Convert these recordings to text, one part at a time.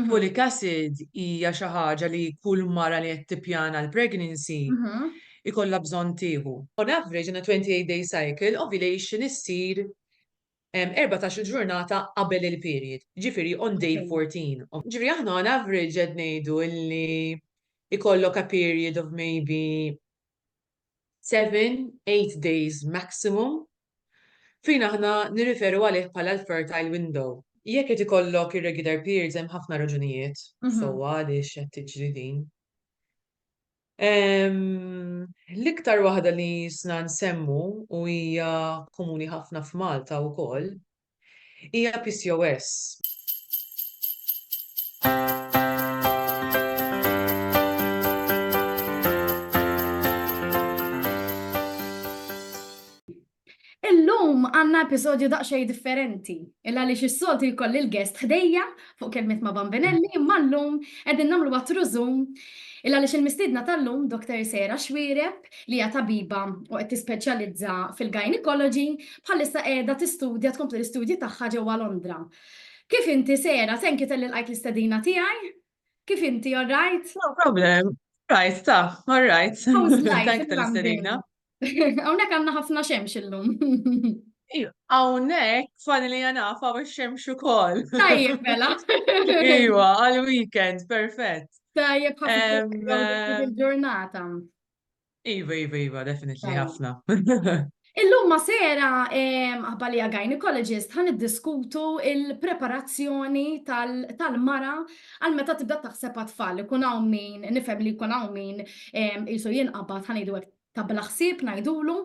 Folic acid hija xi ħaġa li kull mara li qed tippjana l-pregnancy jkollha bżonn tieħu. On average in a 28 day cycle, ovulation issir erbatax-il ġurnata qabel il-period, jiġifieri on day 14. Jiġifieri aħna on average qed ngħidu li jkollok a period of maybe seven, eight days maximum, fejn aħna nirriferu għalih bħala l-fertile window. Jekk qed ikollok irregular periods hemm ħafna raġunijiet sewwa għaliex qed tiġri din. L-iktar waħda li jisna nsemmu u hija komuni ħafna f'Malta wkoll Hija PCOS. Illum għandna episodju daqsxejn differenti, il għaliex is-soltu jkolli l-guest ħdejja fuq kelmiet ma' Bambinelli, imma llum qegħdin nagħmlu għatru Zoom il għaliex il-mistiedna tal-lum Dr. Sarah Xuereb li hija tabiba u qed tispeċjalizza fil-gynecology bħalissa qiegħda tistudja tkompli l-istudji tagħha ġewwa Londra. Kif inti Sarah? Thank you talli lqajt l-istedina tiegħi. Kif inti, all right? No problem. Right, ta, all right. How's life? Thank you tal-istedina. Hawnhekk għandna ħafna xemx illum. Hawnhekk fani li naf hawn ix-xemx ukoll. Tajjeb mela. Iwa, għal weekend, perfett. Tajjeb ħafna il-ġurnata. Iva, iva, iva, definitely ħafna. Illum ma sera aħbalija gynecologist ħan diskutu il-preparazzjoni tal-mara għal meta tibda taħseb għat-tfal. Ikun hawn min, nifhem li jkun hawn min jisu jinqabad ħan idu ta' bla ħsieb ngħidulu,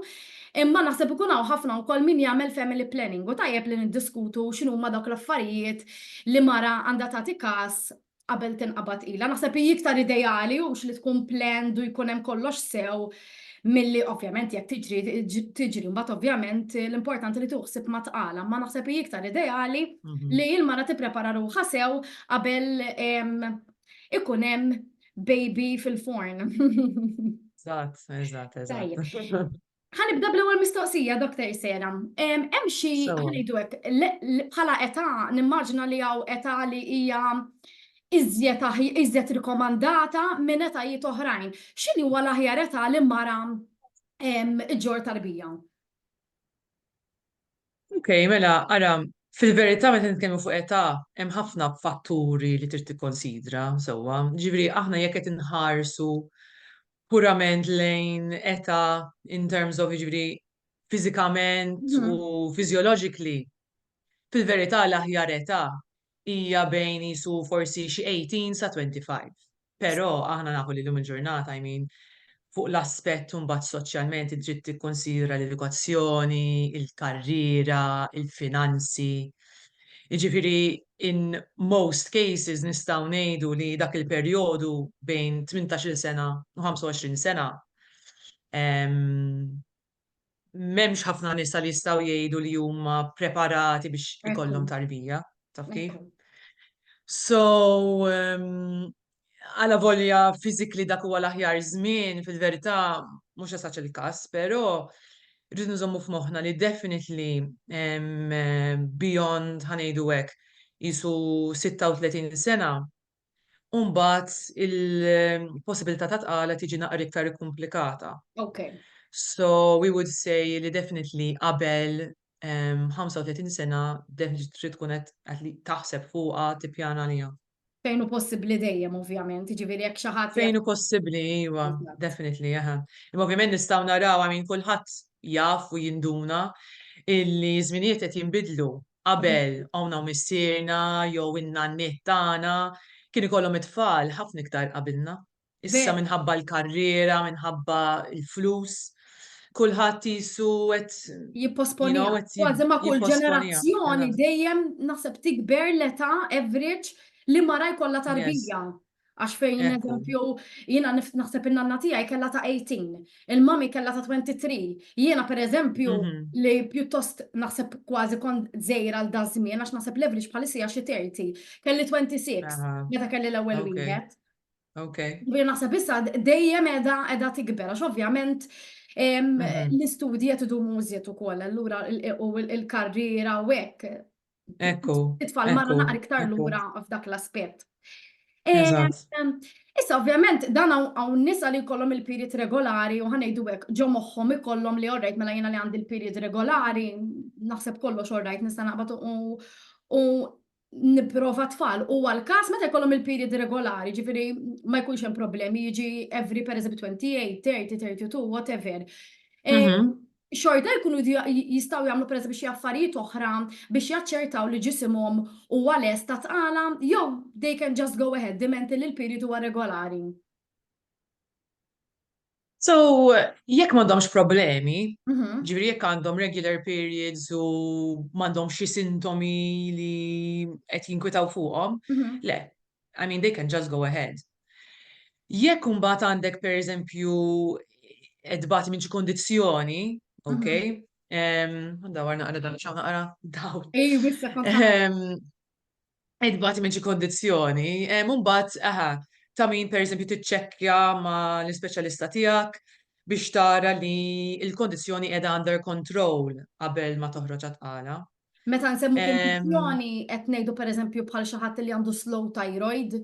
imma naħseb ikun hawn ħafna wkoll min jagħmel family planning u tajjeb li niddiskutu x'inhuma dawk l-affarijiet li mara għandha tagħti każ qabel tinqabad ilha. Naħseb hi iktar ideali hux li tkun planned u jkun hemm kollox sew milli ovvjament jekk tiġri tiġri mbagħad ovvjament l-importanti li tieħu ħsieb ma' tqala, ma naħseb hi iktar ideali li l-mara tipprepara ruħha sew qabel ikun hemm Baby fil-forn. Eżatt, eżatt, eżatt. Ħanibda bl-ewwel mistoqsija, Dr. Sera. Hemm xi ngħidu hekk bħala età nimmaġina li hawn età li hija iżjed iżjed rikomandata minn etajiet oħrajn. X'inhi huwa l-aħjar età li mara ġġorr tarbija? Ok, mela, ara, fil-verità meta nitkellmu fuq età, hemm ħafna fatturi li trid tikkonsidra sewwa. Ġifieri aħna jekk qed inħarsu purament lejn età in terms of ġifieri fiżikament u physiologically, fil-verità l-aħjar età hija bejn qisu forsi xi 18 sa 25. Però aħna nafu li llum il-ġurnata, I mean, fuq l-aspett imbagħad soċjalment int trid tikkunsidra l-edukazzjoni, il-karriera, il-finanzi. Jiġifieri in most cases nistgħu ngħidu li dak il-perjodu bejn tmintax-il sena u 25 sena, m'hemmx ħafna nisa li jistgħu jgħidu li huma preparati biex ikollhom tarbija, taf kif? So, um, għala volja fizikli dak huwa l-aħjar żmien, fil-verità mhux esaċ il-każ, però rridu nżommu f'moħħna li definitely beyond ħanejdu hekk isu 36 sena u mbagħad il-possibilità ta' tqala tiġi naqra iktar ikkumplikata. Okay. So we would say li definitely qabel 35 sena definitely trid tkun qed taħseb fuqha tippjana liha. Fejn hu possibbli dejjem ovvjament, jiġifieri jekk xi ħadd. Fejn hu possibbli, iva, definitely, aha. Imma ovvjament nistgħu naraw minn kulħadd jaf u jinduna illi żminijiet qed jinbidlu Qabel, hawn hawn missierna jew in-nanniet tagħna kien ikollhom it-tfal ħafna iktar qabilna. Issa minħabba l-karriera, minħabba l-flus, kulħadd qisu qed jipposponiha. Kważi ma' kull ġenerazzjoni dejjem naħseb tikber l-età average li mara jkollha tarbija. Għax fejn Ekku. eżempju, jiena nif- naħseb in-nanna tiegħi kellha ta' 18, il-mami kellha ta' 23. Jiena per eżempju Mhm. li pjuttost naħseb kważi kont żejra għal da żmien għax naħseb l-average bħalissa hija xi 30. Kelli 26 Aha. meta kelli l-ewwel Ok. wieħed. Ok. Ġifieri naħseb issa d- dejjem edha edha tikber għax ovvjament em, Mhm. l-istudji qed idumu żjed ukoll allura il- u l- il-karriera u hekk Ekku. It-tfal marra naqra iktar lura f'dak l-aspett. Issa, ovvjament, dan għaw nisa li kollom il-period regolari u ħanajdu għek ġo moħħom ikollom li orrejt mela jena li għandi il-period regolari, naħseb kollox orrejt nista naqbat u niprofa tfal u għal-kas meta jkollhom il-period regolari, ġifiri ma jkunx hemm problemi, jiġi every per eżempju 28, 30, 32, whatever. Mhm. xorta jkunu jridu jistgħu jagħmlu pereżempju xi affarijiet oħra biex jaċċertaw li ġisimhom huwa lest għat-tqala jew they can just go ahead dimenti li l-period huwa regolari. So, jekk m'għandhomx problemi, ġifieri jekk għandhom regular periods u m'għandhomx xi sintomi li qed jinkwitaw fuqhom, le, I mean they can just go ahead. Jekk imbagħad għandek pereżempju qed bagħti minn xi kondizzjoni, ok? Mhm. Dawar naqra dan xaw naqra daw. Ej, wissa Qed bagħti minn xi kondizzjoni, mbagħad aha, ta' min pereżempju tiċċekkja ma' l-ispeċjalista tiegħek biex tara li l-kondizzjoni qiegħda under control qabel ma toħroġ għatqala. Meta nsemmu kondizjoni, qed ngħidu pereżempju bħal xi ħadd li għandu slow thyroid,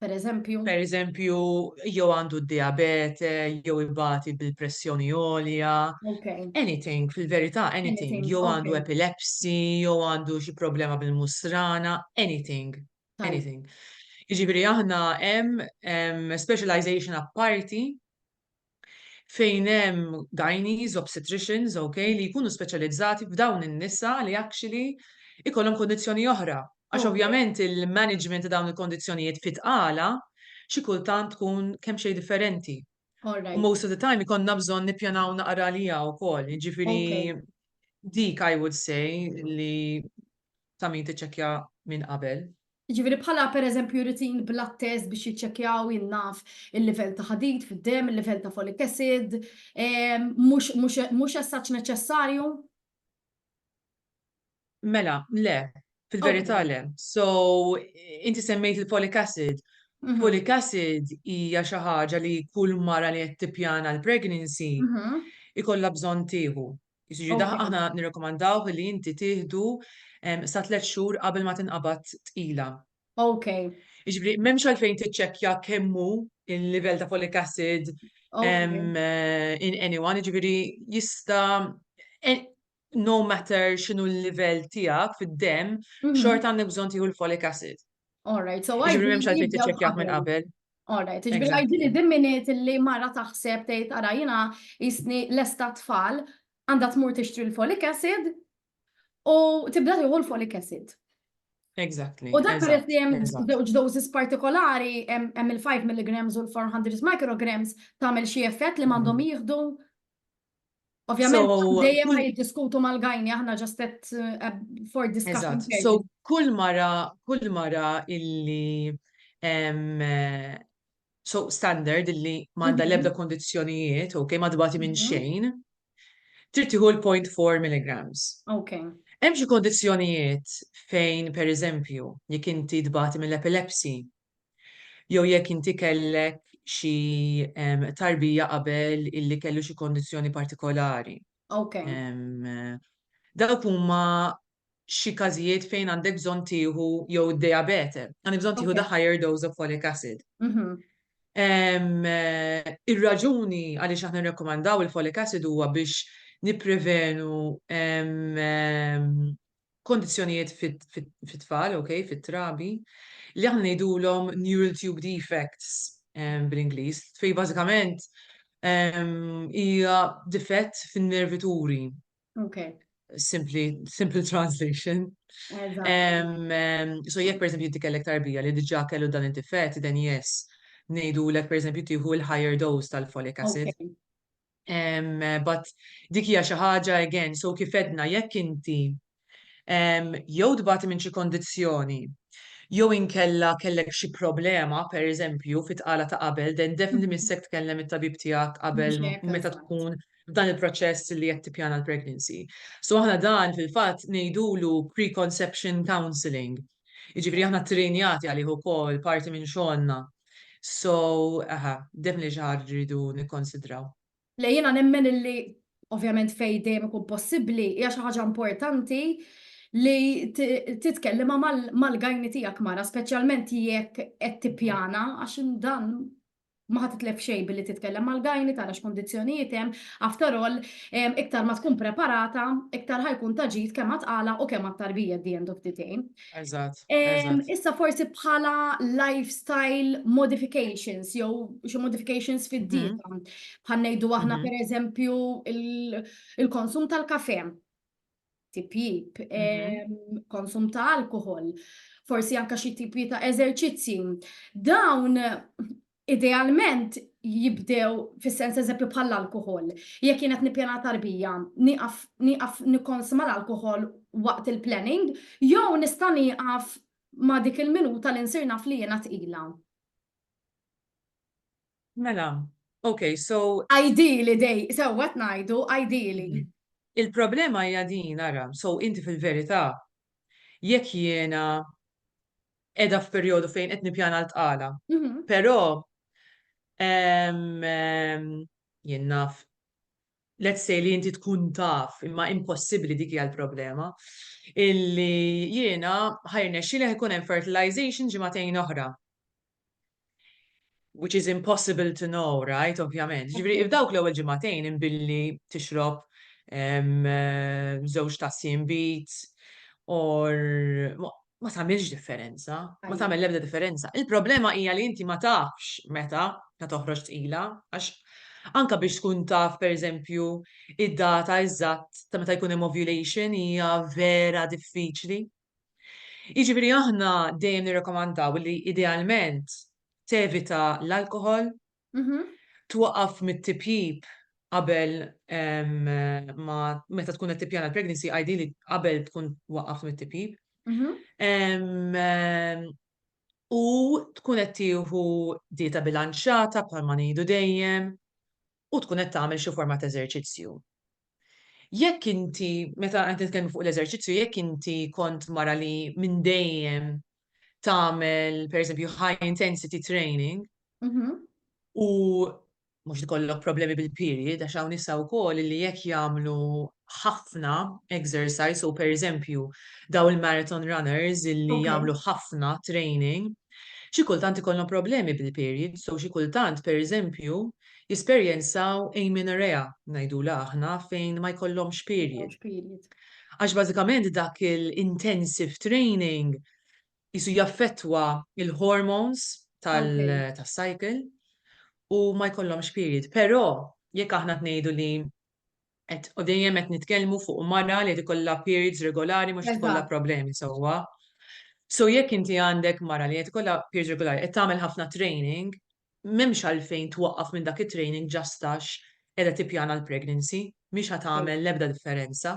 pereżempju. Pereżempju, jew għandu d-diabete, jew ibati bil-pressjoni għolja. Okay. Anything, fil-verità, anything. anything. Jew għandu okay. epilepsy, jew għandu xi problema bil-musrana, anything. Time. Anything. Jiġifieri aħna hemm specialization apparti fejn hemm gynaes, obstetricians, ok, li jkunu speċjalizzati f'dawn in-nisa li actually ikollhom kundizzjoni oħra. Għax ovvjament il-management ta' dawn il-kundizzjonijiet fi tqala xi kultant tkun kemm xejn differenti. U most of the time ikollna bżonn nippjanaw naqra għaliha wkoll. Jiġifieri dik I would say li ta' min tiċċekkja minn qabel. Jiġifieri bħala pereżempju jrid jinblat test biex jiċċekkjaw, jien naf, il-livell ta' ħadid fid-demm, il-livell ta' folic acid, mhux as such neċessarju? Mela, le, fil-verità le. So, inti semmejt il-folic acid. Folic acid hija xi ħaġa li kull mara li qed tippjana l-pregnancy ikollha bżonn tieħu. Jiġifieri da- Okay. aħna nirrekomandawh li inti tieħdu em, sa tliet xhur qabel ma tinqabad tqila. Ok, Jiġifieri m'hemmx għalfejn tiċċekkja kemm hu il-livell ta' folic acid ok. em, eh, in anyone, jiġifieri jista' eh, no matter x'inhu l-livell tiegħek fid-demm, Mhm. xorta għandek bżonn tieħu l-folic acid. All right, so I. Ġibri memx għalfejn tiċċekjah minn qabel. All right, ġibri għajdi li dimminit li mara taħseb tgħid ara jiena jisni lesta tfal għandha tmur tixtri l-folic acid u tibda tieħu l-folic acid. Exactly. U dak peress li hemm żewġ doses partikolari hemm il-5 mg u l-400 micrograms tagħmel xi effett li m'għandhom mm. jieħdu Ovvjament, dejjem ma jiddiskutu mal-gajni, aħna ġast uh, for discussion. So, kull mara, kull mara illi eh, so standard illi manda mhm. lebda kondizjonijiet, ok, ma dbati minn mhm. xejn, trittiħu l-0.4 milligrams. Ok. Hemm xi kondizjonijiet fejn, per eżempju, jekk inti dbati mill-epilepsi, jew jekk inti kellek xi tarbija qabel illi kellu xi kondizzjoni partikolari. Okay. Dawk huma xi każijiet fejn għandek bżonn tieħu jew id-diabete, għandek bżonn tieħu the higher dose of folic acid. Mhm. Ir-raġuni għaliex aħna nirrakkomandaw il-folic acid huwa biex nipprevenu kondizzjonijiet fit-tfal, ok, fit-trabi, li aħna ngħidulhom neural tube defects bl-Ingliż, fej bażikament hija difett fin-nervituri. Ok. Simpli, simple translation. So jekk per eżempju kellek tarbija li diġà kellu dan id-difett, then yes, ngħidulek per eżempju tieħu l-higher dose tal-folic acid. But dik hija xi ħaġa again, so kif għedna jekk inti jew tbati minn xi kondizzjoni jew inkella kellek xi problema pereżempju fit-tqala ta' qabel, then definitely missek tkellem it-tabib tiegħek qabel meta tkun f'dan il-proċess li qed tippjana l-pregnancy. So aħna dan fil-fatt ngħidulu preconception counselling. Jiġifieri aħna ttrejnjati għalih ukoll, parti minn xogħolna. So, aha, definitely xi ħaġa rridu nikkonsidraw. Le jiena nemmen illi ovvjament fejn dejjem ikun possibbli hija xi ħaġa importanti li titkellima mal-gajni tiegħek mara, speċjalment jekk qed tippjana għax dan ma ħa titlef xejn billi titkellem mal-gyne tara x'kundizzjonijiet hemm, after all iktar ma tkun preparata, iktar ħa jkun ta' ġid kemm għat-tqala u kemm għat-tarbija at the end of the day. Eżatt, eżatt. Issa forsi bħala lifestyle modifications jew xi modifications fid-dieta. Bħal ngħidu aħna pereżempju il-konsum tal-kafè. tipjib, mhm. konsum ta' alkohol, forsi anka xi tipi ta' eżerċizzi. Dawn idealment jibdew fis-sens eżempju bħal alkohol Jekk kienet nippjana tarbija, nieqaf nikkonsma l-alkohol waqt il-planning, jew nista' nieqaf ma' dik il-minuta li nsir naf li jiena tqila. Mela, ok, so. Ideally dej, sewwa qed ngħidu, ideally. Il-problema hija din, ara, so inti fil-verità, jekk jiena qiegħda f'perjodu fejn qed nippjana l-tqala, però jien naf, let's say li inti tkun taf, imma impossibbli dik hija l-problema, illi jiena ħa jirnexxieli ħa jkun hemm fertilization ġimagħtejn oħra. which is impossible to know, right, ovvjament. Ġifri, f'dawk l-ewwel ġimagħtejn imbilli tixrob żewġ tassi imbit, or ma tagħmilx differenza, ma tagħmel l-ebda differenza. Il-problema hija li inti ma tafx meta ta' toħroġ tqila, għax anka biex tkun taf pereżempju id-data eżatt ta' meta jkun hemm ovulation hija vera diffiċli. Jiġifieri aħna dejjem nirrekomandaw li idealment tevita l-alkoħol, twaqqaf mit-tipjip qabel ma meta tkun qed tippjana l-pregnancy ideally qabel tkun waqqaft mit-tipjip. U tkun qed tieħu dieta bilanċjata bħalma ngħidu dejjem u tkun qed tagħmel xi forma ta' eżerċizzju. Jekk inti, meta qed nitkellmu fuq l-eżerċizzju, jekk inti kont mara li minn dejjem tagħmel pereżempju high intensity training mhm. u mhux ikollok problemi bil-period għax hawn nisa wkoll li jekk jagħmlu ħafna exercise u pereżempju dawn il-marathon runners illi jagħmlu ħafna training xi kultant ikollhom problemi bil-period so xi kultant pereżempju jesperjenzaw amenorrhea ngħidulha aħna fejn ma jkollhomx period. Għax bażikament dak il-intensive training qisu jaffettwa l-hormones tas-cycle u ma jkollhomx period. Però jekk aħna qed ngħidu li Qed u dejjem qed nitkellmu fuq mara li qed ikollha periods regolari mhux qed ikollha problemi sewwa. So jekk inti għandek mara li qed ikollha periods regolari, qed tagħmel ħafna training, m'hemmx għalfejn twaqqaf minn dak it-training just għax qiegħda tippjana l-pregnancy, mhix ħa tagħmel l-ebda differenza.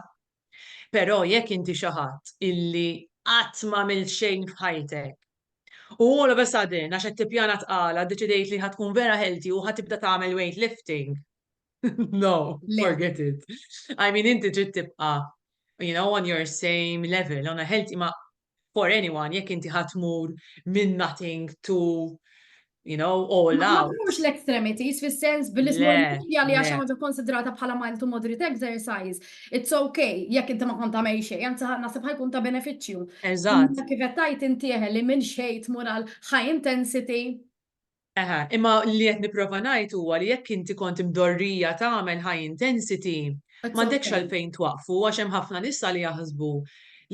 Però jekk inti xi ħadd illi qatt m'għamilt xejn f'ħajtek u all of a sudden għax qed tippjana tqala ddeċidejt li ħa tkun vera healthy u ħa tibda tagħmel weight lifting, no, forget it. I mean, inti trid tibqa' you know, on your same level, on a healthy, ma for anyone, jekk inti ħatmur minn nothing to you know, all out. Ma mux l-extremities, fil-sens bil-ismorfija li għaxa maġa konsidrata bħala mild to moderate exercise. It's okay, jekk inti ma konta mej xej, għanzi nasib ħajkun ta' beneficju. Eżat. Kifet tajt intieħe li minn xej tmur għal high intensity. Eħe, imma li qed nipprova ngħid huwa li jekk inti kont imdorrija tagħmel high intensity, m'għandekx għalfejn twaqqfu għax hemm ħafna nisa li jaħsbu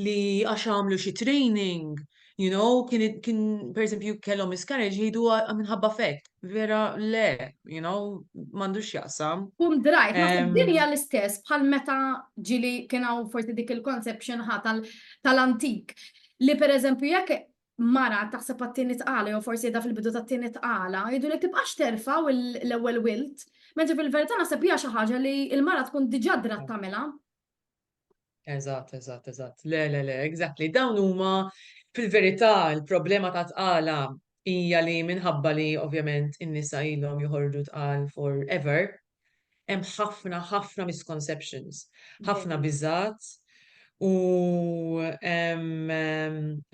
li għax għamlu xi training, you know, kien kien pereżempju kellhom miscarriage jgħidu ah, minħabba fek. Vera le, you know, m'għandux jaqsam. Kum drajt, ma Em. din hija l-istess bħal meta ġili kien hawn forsi dik il-conception ħa tal- tal-antik. Li pereżempju jekk mara taħseb għat-tieni tqala jew forsi qiegħda fil-bidu tat-tieni tqala, jgħidulek tibqax terfa' l-ewwel wild, mentri fil-verità naħseb hija xi ħaġa li l-mara tkun diġà drat tagħmilha. Eżatt, eżatt, eżatt. Le, le, le, exactly. Dawn huma fil-verità l-problema ta' tqala hija li minħabba li ovvjament in-nisa ilhom joħorġu tqal forever, Hemm ħafna, ħafna misconceptions, ħafna biżgħat u hemm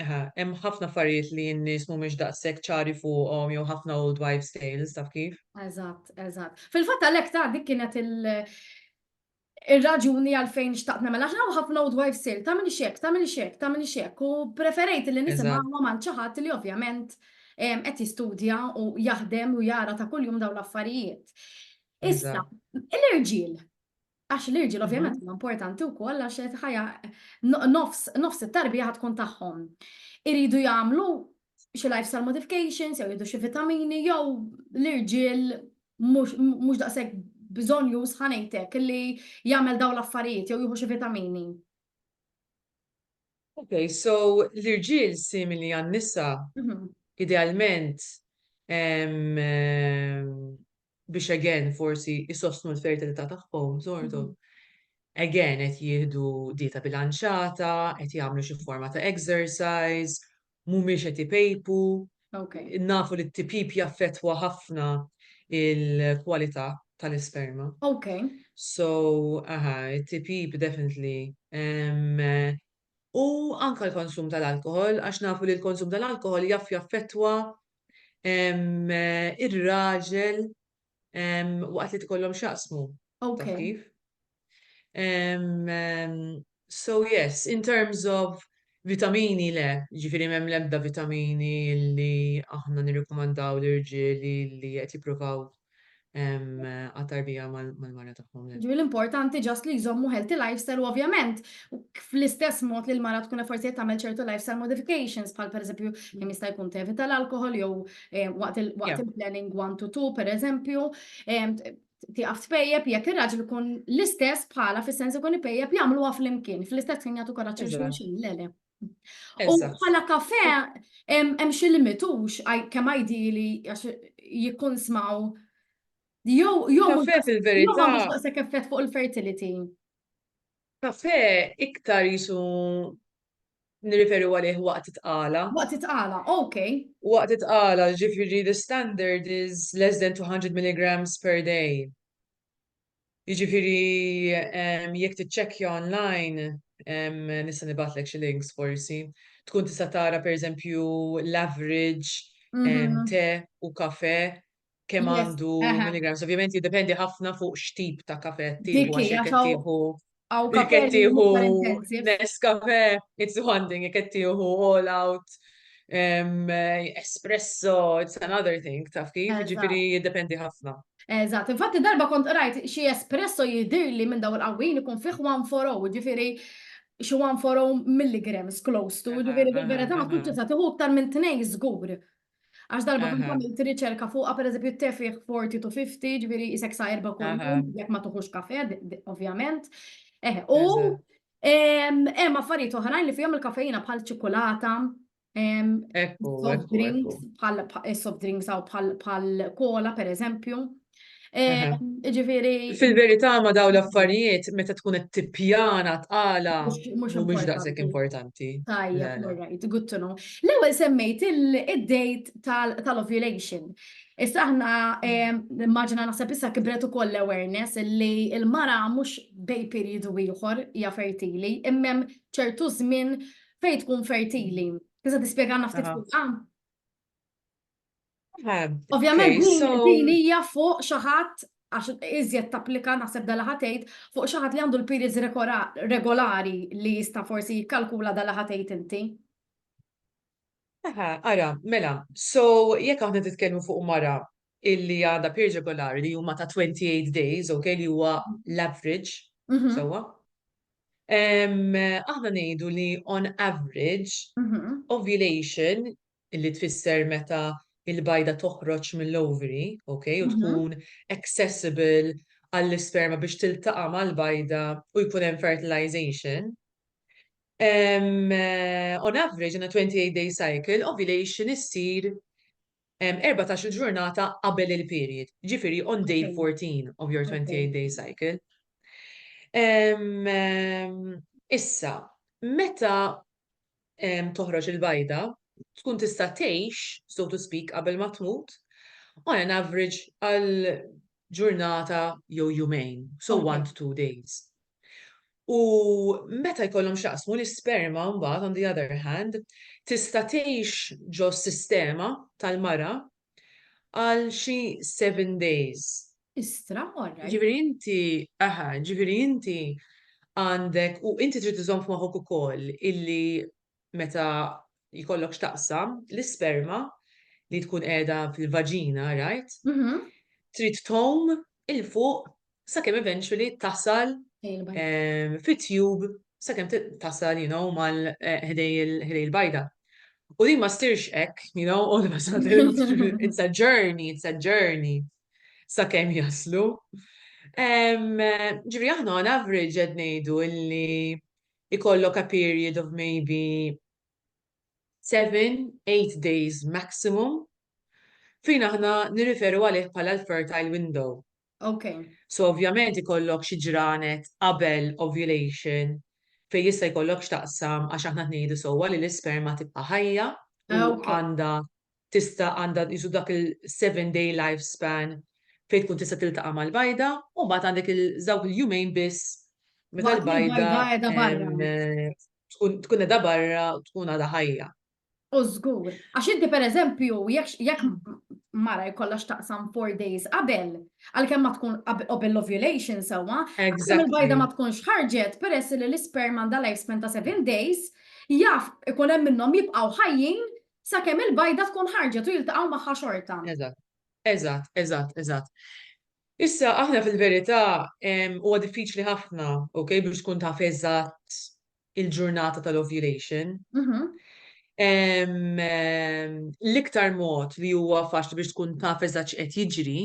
ħafna affarijiet li n-nies mhumiex daqshekk ċari fuqhom jew ħafna old wives tales taf kif? Eżatt, eżatt. Fil-fatt għalhekk ta' dik kienet il- Ir-raġuni għalfejn xtaqt nagħmel għax hawn ħafna old wives sale, tagħmel xek, tagħmel xek, tagħmel xek, u preferejt li nisimgħu ma' xi ħadd li ovvjament qed jistudja u jaħdem u jara ta' kuljum dawn l-affarijiet. Issa, l-irġiel, għax l-irġiel ovvjament mhm. huma importanti wkoll għax qed ħajja nofs it-tarbija ħad tkun tagħhom. Iridu jagħmlu xi lifestyle modifications, jew jiddu xi vitamini, jew l-irġiel mhux daqshekk bżonn już ħanejtek li jagħmel dawn l-affarijiet jew jieħu xi vitamini. Ok, so l-irġiel simili għan-nisa, idealment biex again forsi isostnu l-fertilità tagħhom żortu. Again qed jieħdu dieta bilanċata, qed jagħmlu xi forma ta' exercise, mhumiex qed ipejpu. Nafu li t-tipjip jaffettwa ħafna l-kwalità tal-isperma. So, aha, it-tipjip definitely. U anke l-konsum tal-alkoħol għax nafu li l-konsum tal-alkoħol jaf jaffettwa r-raġel waqt li tkollhom x'jaqsmu. Taf kif? So yes, in terms of vitamini le, jiġifieri m'hemm l-ebda vitamini li aħna nirrikomandaw l-irġiel li qed jippruvaw għat-tarbija mal-mara tagħhom. Jiġifieri l-importanti just li jżommu healthy lifestyle u ovvjament fl-istess mod li l-mara tkun forsi qed tagħmel ċertu lifestyle modifications bħal pereżempju kemm jista' jkun tevita l-alkoħol jew waqt il-planning one to two, per eżempju, tiqaf tpejjeb jekk ir-raġel ikun l-istess bħala fis-sens ikun ipejjeb jagħmluha flimkien, fl-istess ħin jagħtu koraġġ xulxin, le le. U bħala kafe hemm xi limitux kemm għajdi li jkun smaw jew jew fil-verità. Jew effett fuq il-fertility. Kafè iktar qisu nirriferi għalih waqt it-tqala. Waqt it-tqala, ok. Waqt it-tqala, jiġifieri the standard is less than 200 milligrams per day. Jiġifieri jekk tiċċekkja online, nista' nibgħatlek xi links forsi, tkun tista' tara pereżempju l-average te u kafè kemm Yes, għandu aha. milligrams. Ovvjament jiddependi ħafna fuq x'tip ta' kafe qed tieħu Dik għax hija, jekk qed so- tieħu Għaw jekk kafe qed li tieħu huma intensive. Nescafe, it's one thing, jekk qed tieħu all out, em, espresso, it's another thing, taf kif, Eżatt. ġifieri jiddependi ħafna. Eżatt, infatti darba kont qrajt xi espresso jidirli minn daw il-qawwin ikun fih 140, ġifieri xi 140 milligrams close to, Aha, ġifieri aha, bil-verità ma aha. tkunx tista' tieħu iktar minn tnejn żgur. Għax darba kont għamilt riċerka fuqha, pereżempju tefih 40 to 50, ġifieri isek sa erba' kuljum, jekk ma tuħux kafe, ovvjament. Eh, u hemm affarijiet oħrajn li fihom il-kafeina bħal ċikulata, soft drinks, bħal soft drinks aw bħal kola pereżempju. Ġifiri. Fil-verità ma daw l-affarijiet meta tkun qed tippjana tqala mhumiex daqshekk importanti. Tajjeb, alright, good to know. L-ewwel semmejt id-date tal-ovulation. Issa aħna immaġina naħseb issa kibret ukoll l-awareness li l-mara mhux bej perjodu ieħor hija fertili, imma hemm ċertu żmien fejn tkun fertili. Tista' tispjegalna ftit fuqha? Ovvjament din hija fuq xi ħadd għax iżjed tapplika naħseb dala ħatejt fuq xi ħadd li għandu l-periods regolari li jista' forsi jikkalkula dala ħatejt inti. Aha, ara, mela, so jekk aħna titkellmu fuq mara illi għandha period regolari li huma ta' 28 days, ok, li huwa l-average, mhm. sewwa. Aħna ngħidu li on average mhm. ovulation illi tfisser meta l-bajda toħroġ mill-ovary, ok, u tkun accessible għall-isperma biex tiltaqa' mal-bajda u jkun hemm fertilization. On average, in a 28 day cycle, ovulation issir 14-il ġurnata qabel il-period, jiġifieri on day 14 of your 28 day cycle. Issa, meta toħroġ il-bajda, tkun tista' tgħix, so to speak, qabel ma tmut, on an average għal ġurnata jew jumejn, so one to two days. U meta jkollhom x'jaqsmu l-isperma mbagħad on the other hand, tista' tgħix ġo sistema tal-mara għal xi seven days. Istra, all right. Ġifieri inti, aha, ġifieri inti għandek u inti trid iżomm f'moħħok ukoll illi meta jkollok x'taqsam l-isperma li tkun qiegħda fil-vaġina, right? Mhm. Trid tgħum il fuq sakemm eventually tasal ehm, fit-tube sakemm tasal, you know, mal eh, ħdej il-bajda. U li ma sirx ek, you know, all of a sudden, it's a journey, it's a journey, sakemm jaslu. Ehm, ġivri aħna on average għed nejdu illi ikollok a period of maybe 7-8 days maximum fejn aħna nirriferu għalih bħala l-fertile window. Okay. So ovvjament ikollok xi ġranet qabel ovulation fejn jista' jkollok x'taqsam għax aħna tnejdu sewwa li l-isperma tibqa' ħajja u ah, għandha tista' għandha jisu dak il-7 day lifespan fejn tkun tista' tiltaqa' mal-bajda u mbagħad għandek il-żawk il-jumejn biss meta l-bajda tkun tkun edha barra tkun għadha ħajja. U żgur, għax inti pereżempju jekk mara jkollha x'taqsam four days qabel, għalkemm ma tkun qabel l-ovulation sewwa, il-bajda ma tkunx ħarġet peress li l-isperm għandha lifespan ta' seven days, jaf ikun hemm minnhom jibqgħu ħajjin sakemm il-bajda tkun ħarġet u jiltaqgħu magħha xorta. Eżatt, eżatt, eżatt, eżatt. Issa aħna fil-verità huwa diffiċli ħafna, okay, biex tkun taf eżatt il-ġurnata tal-ovulation. L-iktar mod li huwa faċli biex tkun taf eżatt x'qed jiġri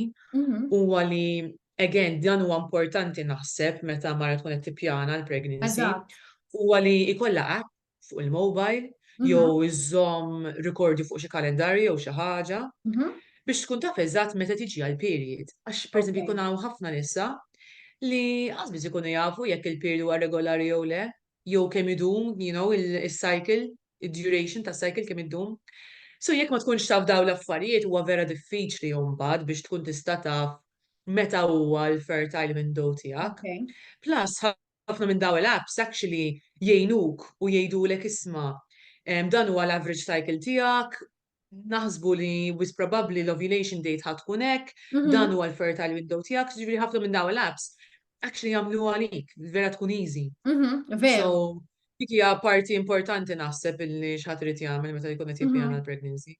huwa li, again, dan huwa importanti naħseb meta mara tkun qed tippjana l-pregnancy, huwa li jkollha app fuq il-mobile jew iżżomm rikordju fuq xi kalendarju jew xi ħaġa. biex tkun taf eżatt meta tiġi għall-period għax pereżempju jkun hawn ħafna nisa li qatt biss ikunu jafu jekk il-period huwa regolari jew le jew kemm idum you know is-cycle, id-duration tas-cycle kemm iddum. So jekk ma tkunx taf dawn l-affarijiet huwa vera diffiċli mbagħad biex tkun tista' taf meta huwa l-fertile window tiegħek. Plus ħafna minn dawn l-apps actually jgħinuk u jgħidulek isma' dan huwa l-average cycle tiegħek naħsbu li wis probabbli l-ovulation date ħa tkun hekk, dan huwa l-fertile window tiegħek, ġifieri ħafna minn dawn l-apps actually jagħmlu għalik, vera tkun easy. So, dik hija parti importanti naħseb illi x'ħadd irid jagħmel meta jkun qed jippjana l-pregnancy.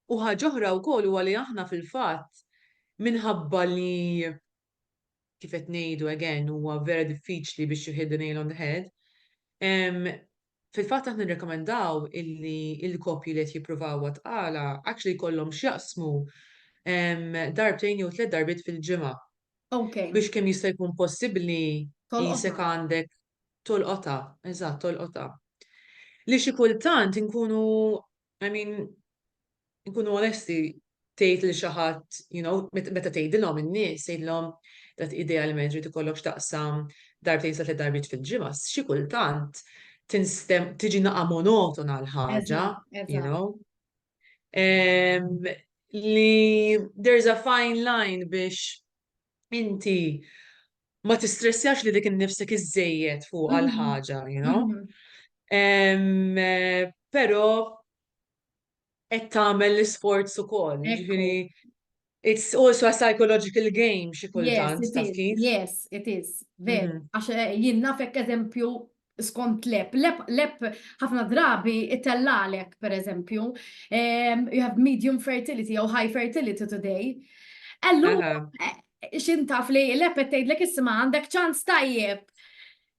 U ħaġa oħra wkoll huwa li aħna fil-fatt minħabba li kif qed ngħidu again huwa vera diffiċli biex you hit the nail on the head. Fil-fatt aħna nirrekomendaw illi il-koppji li qed jippruvaw għat-tqala actually jkollhom x'jaqsmu darbtejn jew tliet darbiet fil-ġimgħa. Okay. Biex kemm jista' jkun possibbli jisek għandek tolqotha, eżatt tolqotha. Li xi kultant inkunu I mean, nkunu onesti, tgħid lil xi ħadd, you know, meta tgħidilhom in-nies, tgħidilhom dat idealment trid ikollok x'taqsam darbtejn sa tliet darbiet fil-ġimgħa, xi kultant tinstem tiġi naqa' monotona l-ħaġa, you know. Li there's a fine line biex inti ma tistressjax li dik innifsek iżejjed fuq għal mhm. ħaġa, you know? Mhm. Eh, però qed tagħmel l-isforz ukoll, ġifieri It's also a psychological game xi kultant taf kif. Yes, it is. Ver, mhm. għax eh, jien nafek eżempju skont l-app. L-app ħafna drabi itellgħalek, pereżempju, ehm, you have medium fertility jew high fertility today. Allu, eh, xin taf li l-app qed tgħidlek isma' għandek ċans tajjeb.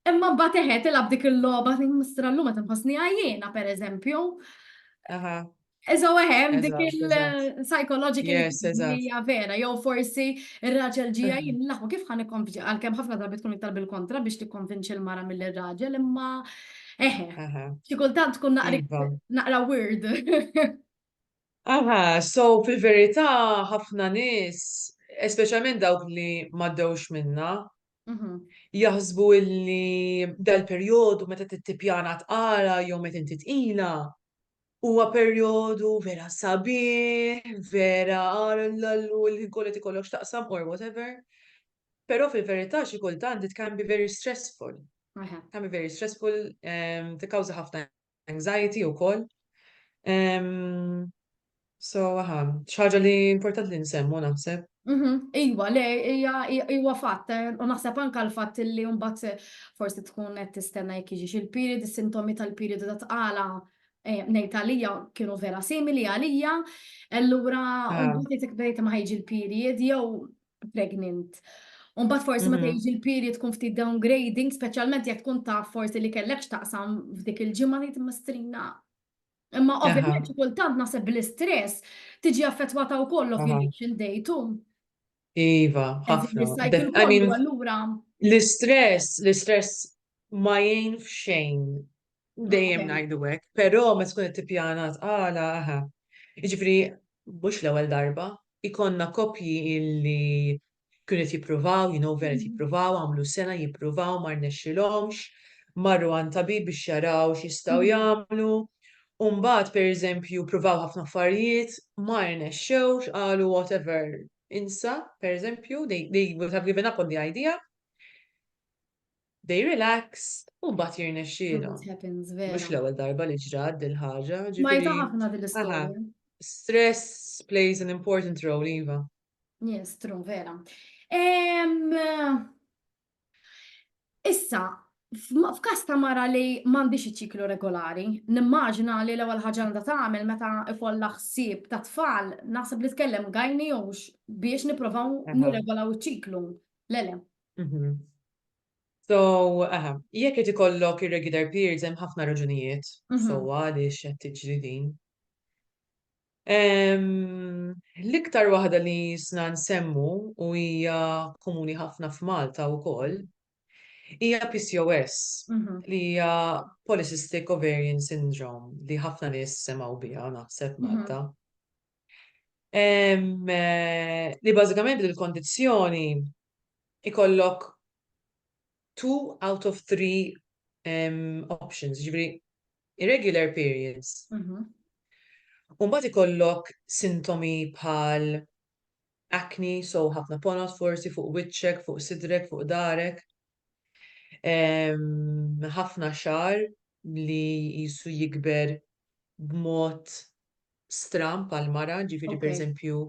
Imma mbagħad eħed ilab dik il-logħba, mistrallu ma tinħossni għajjena, pereżempju. Eżo eħem, dik il-psychological hija vera, jew forsi il-raġel ġija jillaħu kif ħan ikkonvinċi, għal-kem ħafna darbi tkun iktar bil-kontra biex tikkonvinċi l-mara mill-raġel, imma eħe, xikultant tkun iva. naqra weird. Aha, so fil-verità ħafna nis, especialment dawk li maddewx minna, mhm. jaħsbu illi dal-periodu meta t-tipjana t-qara jew meta inti tqila, Huwa perjodu vera sabiħ, vera għallallu l-ħin kollu qed ikollok x'taqsam or whatever. Però fil-verità xi kultant it can be very stressful. Aha. Can be very stressful, em, tikkawża ħafna anxiety wkoll. Em, So, aha, xi ħaġa li importanti li nsemmu naħseb. Mhm, Iwa, le, hija hija- huwa fatt, eh, u naħseb anka l-fatt li mbagħad forsi tkun qed tistenna jekk jiġix il-period, is-sintomi tal-periodu ta' tqala Ngħid għalija kienu vera simili għalija, allura mbagħad jekk bdejt ma ħejġi l-period jew pregnant. U mbagħad forsi meta jiġi l-period tkun ftit downgrading, speċjalment jekk tkun taf forsi li kellek x'taqsam f'dik il-ġimgħa ngħid mistrina. Imma ovvjament xi kultant naħseb bl-istress tiġi affettwata wkoll l-ovulation day too. Iva, ħafna. I mean, l-istress, l-istress ma jgħin f'xejn dejjem ngħidu hekk, però ma tkun qed tippjana tqala aha. Jiġifieri mhux l-ewwel darba, ikonna koppji illi kienu qed jippruvaw, you know, vera mm. jippruvaw, għamlu sena jippruvaw, ma rnexxilhomx, marru għand tabib biex jaraw x'jistgħu mm. jagħmlu u mbagħad pereżempju ppruvaw ħafna affarijiet ma rnexxewx qalu whatever insa pereżempju they, they would have given up on the idea they relaxed u mbagħad jirnexxielhom. It happens, vera. Mhux l-ewwel darba li ġrat dil ħaġa. Ma ġifieri- jta ħafna din l-istorja. Aha. Stress plays an important role, Iva. Yes, true, vera. Em, Issa, f'każ ta' mara li m'għandhiex iċ-ċiklu regolari, nimmaġina li l-ewwel ħaġa għandha tagħmel meta ikollha ħsieb ta' tfal, naħseb li tkellem gynae jew biex nipprovaw nirregolaw iċ-ċiklu. Le le. So, aha, jekk qed ikollok irregular periods hemm ħafna raġunijiet sewwa għaliex qed tiġri din. L-iktar waħda li jisna nsemmu u hija komuni ħafna f'Malta wkoll hija PCOS li hija Polycystic Ovarian Syndrome li ħafna nies semgħu biha naħseb Malta. Li bażikament il-kondizzjoni ikollok two out of three options, jiġifieri Irregular periods. U mbagħad ikollok sintomi bħal acne, so ħafna ponot forsi fuq wiċċek, fuq sidrek, fuq darek. Ħafna xar li jisu jikber b'mod stram pal mara, ġifiri per eżempju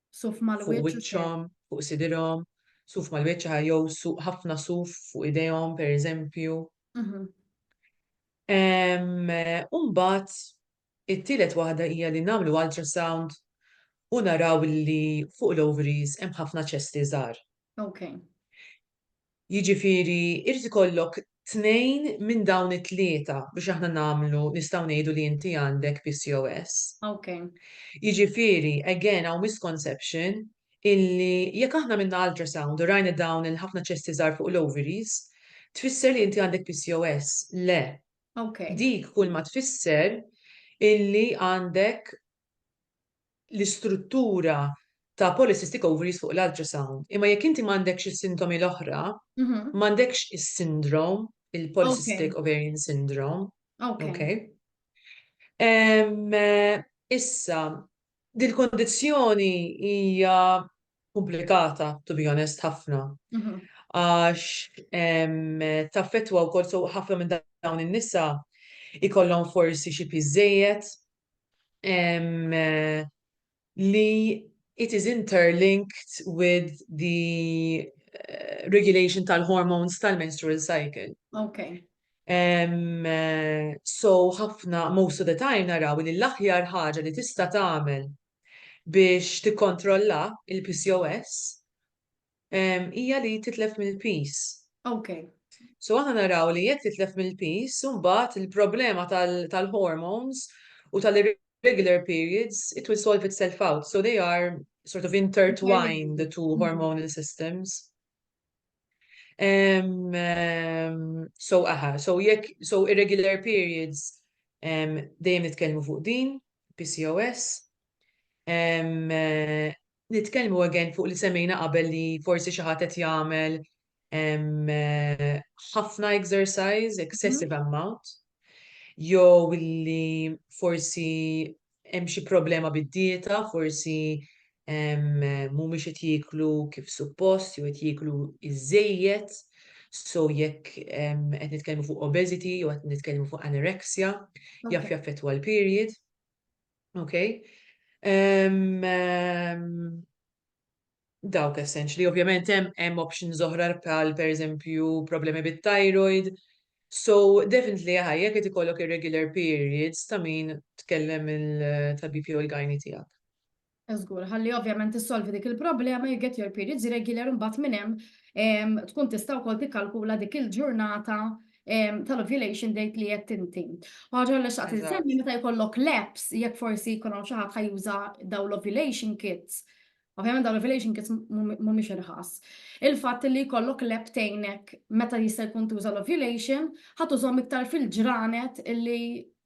Suf mal fuq wiċċhom, fuq sidirhom, suf mal-wiċċa jew ħafna suf fuq idejhom pereżempju. Mhm. Umbat, it-tielet waħda hija li nagħmlu ultrasound u naraw li fuq l-ovaries hemm ħafna ċesti żgħar. Okay. Jiġifieri jrid ikollok tnejn minn dawn it-tlieta biex aħna nagħmlu nistgħu ngħidu li inti għandek PCOS. Ok. Jiġifieri, again, hawn misconception illi jekk aħna għamilna ultrasound u rajna dawn il-ħafna ċesti żgħar fuq l-ovaries, tfisser li inti għandek PCOS. Le. Ok. Dik kulma tfisser illi għandek l-istruttura ta' polycystic ovaries fuq l-ultrasound, imma jekk inti m'għandekx is-sintomi l-oħra, m'għandekx is-sindrom, il-polycystic ovarian syndrome. Okej. Issa, dil-kundizzjoni hija komplikata, to be honest, ħafna, għax taffettwa wkoll, so ħafna minn dawn in-nisa jkollhom forsi xi piż żejjed, li it is interlinked with the eh, regulation tal-hormones tal-menstrual cycle. Okay. Um, so ħafna most of the time naraw li l-aħjar ħaġa li tista' tagħmel biex tikkontrolla il-PCOS hija li titlef mill-piż. Okay. So aħna naraw li jekk titlef mill-piż, imbagħad il-problema tal-hormones u tal-irregular periods, it will solve itself out. So they are sort of intertwined, the two hormonal systems. Um, um, so aha, so jekk, so irregular periods, um, dejjem nitkellmu fuq din, PCOS. Um, uh, Nitkellmu again fuq li semmejna qabel li forsi xi ħadd qed jagħmel ħafna exercise, excessive amount, jew li forsi hemm xi problema bid-dieta, forsi mhumiex qed jieklu kif suppost jew qed jieklu iżżejjed, so jekk qed nitkellmu fuq obesity jew qed nitkellmu fuq anorexia, jaf jaffettwa l-period. Okay? Um, um, dawk essentially, ovvjament hemm hemm options oħra bħal pereżempju problemi bit-thyroid. So definitely ħajja qed ikollok irregular periods ta' min tkellem il-tabib jew il-gajni tiegħek. Żgur, ħalli ovvjament tissolvi dik il-problema you get your periods regular imbagħad minn hemm tkun tista' wkoll tikkalkula dik il-ġurnata tal-ovulation date li qed inti. Ħaġa li xaqt insemmi meta jkollok laps jekk forsi jkun hawn xi ħadd ħajuża dawn l-ovulation kits. Ovvjament dawn l-ovulation kits mhumiex irħas. Il-fatt li jkollok lep tgħinek meta jista' jkun tuża l-ovulation ħadd użhom iktar fil-ġranet illi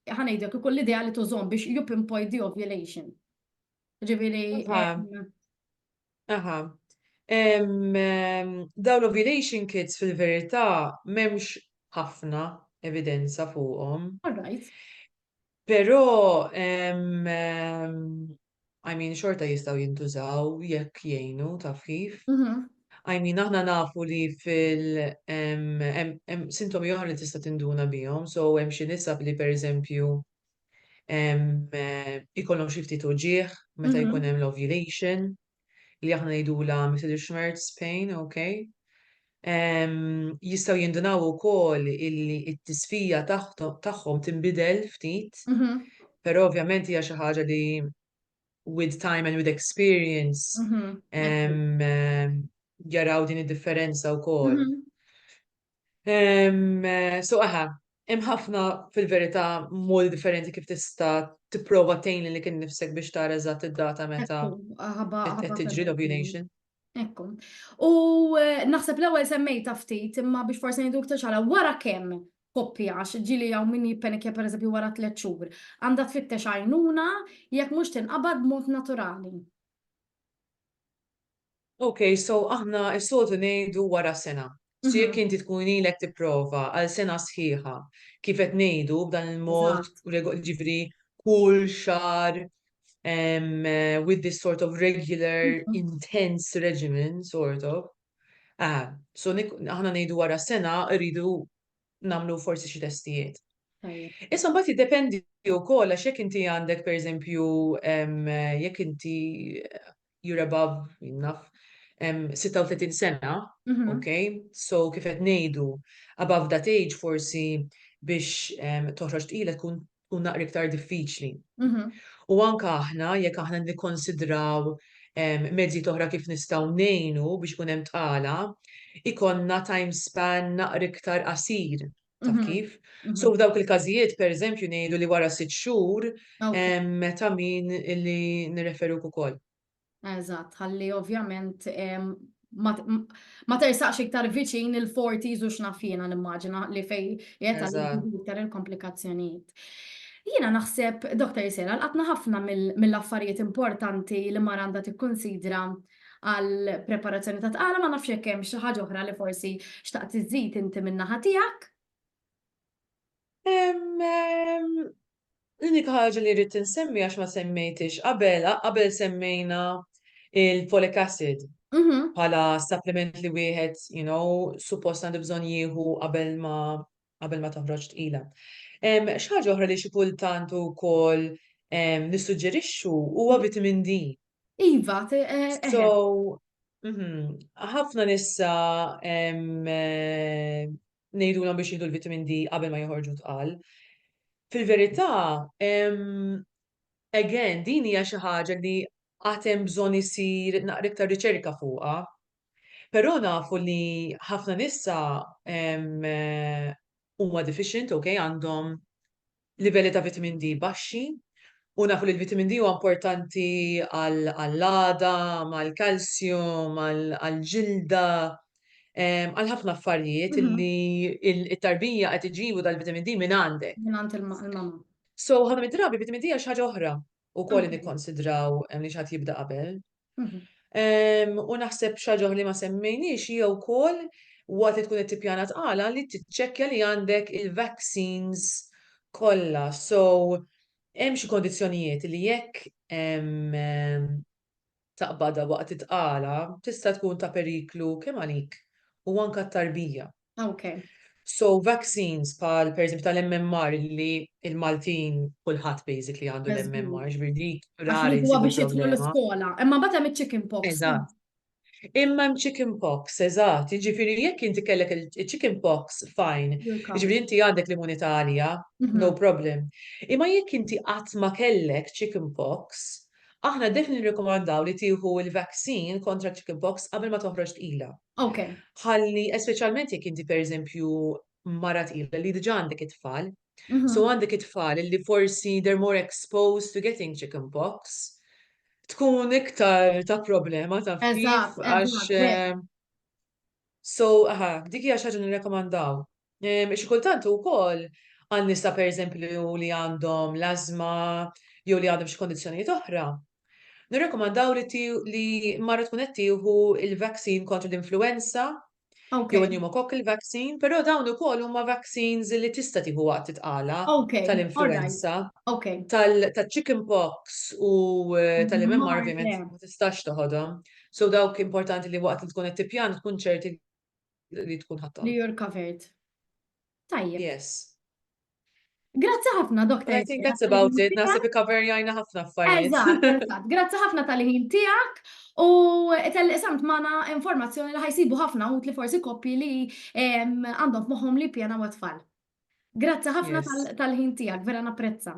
ħanejdek ikun l-idea li tużhom biex you pinpoint the ovulation. Ġifieri. Aha. Dawn l-ovulation kits fil-verità m'hemmx ħafna evidenza fuqhom. All right. Però I mean xorta jistgħu jintużaw jekk jgħinu taf kif. Mhm. I mean aħna nafu li fil hemm sintomi oħra li tista' tinduna bihom, so hemm xi nisab li pereżempju ikollhom xi ftit uġigħ meta jkun hemm l-ovulation li aħna ngħidulha Mittelschmerz pain, ok? Jistgħu jindunaw ukoll illi t-tisfija tagħhom tinbidel ftit, però ovvjament hija xi ħaġa li with time and with experience mhm, eh, jaraw din id-differenza u kol. Mhm. Eh, so aha, hemm ħafna fil-verità modi differenti kif tista' tipprova tgħin li kien nifsek biex tara eżatt id-data meta qed tiġri l-ovulation. Ekku. U eh, naħseb l-ewwel semmejta ftit imma biex forsi ngħidu iktar xala wara kemm koppja għax ġili hawn min jippenikja pereżempju wara tliet xhur għandha tfittex għajnuna jekk mhux tinqabad b'mod naturali. Ok, so aħna s-sotu ngħidu wara sena. So jekk inti tkun ilek tipprova għal sena sħiħa kif qed ngħidu b'dan il-mod, jiġifieri kull xahar with this sort of regular intense regimen sort of. Ah, so aħna ngħidu wara sena rridu nagħmlu forsi xi testijiet. Issa mbagħad jiddependi wkoll għax jekk inti għandek pereżempju jekk inti you're above, enough, 36 sena, mhm. ok, so kif qed ngħidu above that age forsi biex toħroġ tqila tkun tkun naqri iktar diffiċli. Mhm. U anka aħna jekk aħna nikkonsidraw mezzi toħra kif nistgħu ngħinu biex kun hemm tqala, ikonna time span naqri iktar qasir. Taf Mhm. kif? Mhm. So f'dawk il-każijiet, pereżempju, ngħidu li wara sitt xhur Ok. em, meta min li nirreferuk ukoll. Eżatt, ħalli ovvjament em, ma, m- ma tersaqx iktar viċin il-40s u x'naf jiena nimmaġina li fej jeta Eżatt. iktar il-komplikazzjonijiet. Jiena naħseb, Dr. Sera, l-qatna ħafna mill- mill-affarijiet importanti li mara għandha tikkunsidra għal preparazzjoni ta' tqala ma nafx jekk hemm xi ħaġa oħra li forsi xtaqt iżid inti min-naħa tiegħek. L-unika ħaġa li rrid insemmi għax ma semmejtix qabel, qabel semmejna il-folic acid mhm. bħala supplement li wieħed, you know, suppost għandu bżonn jieħu qabel ma qabel ma toħroġ tqila. Xi ħaġa oħra li xi kultant ukoll nissuġġerixxu huwa vitamin D. Iva, eh, eh, eh. So, mhm, ħafna nissa ngħidulhom biex jieħdu l-vitamin D qabel ma joħorġu tqal. Fil-verità, again, din hija xi ħaġa li għatem bżonn isir naqra iktar riċerka fuqha Però nafu li ħafna nisa huma deficient, ok, għandhom livelli ta' vitamin D baxxi, u nafu li l-vitamin D huwa importanti għall-għada, mal-kalsjum, għall-ġilda, għal ħafna affarijiet li t-tarbija qed iġibu dal-vitamin D minn għandek. Minn għand il-mamma. So, ħafna mid-drabi vitamin D hija xi ħaġa oħra. u koll nikkonsidraw li xaħat jibda qabel. U naħseb xaġoħ li ma semmejniex hija wkoll waqt li tkun qed tippjana tqala li tiċċekkja li għandek il-vaccines kollha. So hemm xi kondizzjonijiet li jekk taqbada waqt it-tqala tista' tkun ta' periklu kemm għalik u anke t-tarbija. Okay. So vaccines pal per eżempju tal-MMR li il-Maltin kulħadd basically għandu l-MMR ġbirdi rari. Huwa biex jitlu l-iskola, imma bata mit chicken pox. Eżatt. Imma hemm chicken pox, eżatt, jiġifieri jekk inti kellek il-chicken pox fajn, jiġifieri inti għandek l-immunità għalija, mhm. no problem. Imma jekk inti qatt ma kellek chicken pox, aħna defni nirrekomandaw li tieħu il-vaccine kontra chicken pox qabel ma toħroġ tqila. Ok. Ħalli, speċjalment jekk inti pereżempju mara tqila li diġà għandek it-tfal, Mhm. so għandek it-tfal li forsi they're more exposed to getting chicken pox, tkun iktar ta' problema ta' kif Eżatt, għax eżatt, vera. eh, so aha, dik hija xi ħaġa nirrekomandaw. Ehm, xi kultant ukoll għal nisa pereżempju li għandhom l-ażma jew li għandhom xi kondizzjonijiet oħra. Nirrekomandaw li li marra tkun qed tieħu il-vaccine kontra l-influenza jew pneumococcal vaccine, però dawn ukoll huma vaccines li tista' tieħu waqt titqala tal-influenza. Tal-chicken pox u eh, tal-MMR ovvjament ma tistax toħodhom. So dawk importanti li waqt li tkun qed tippjan tkun ċerti li tkun ħadd. Li you're covered. Tajjeb. Yes. Grazzi ħafna, Dr. I think that's about it. Nasib cover jajna ħafna affarijiet. Eżatt, eżatt. Grazzi ħafna tal-ħin tiegħek u tal-li samt magħna informazzjoni li ħajsibu ħafna u li forsi koppi li għandhom moħħom li pjana u tfal. Grazzi ħafna tal-ħin tiegħek, vera napprezza.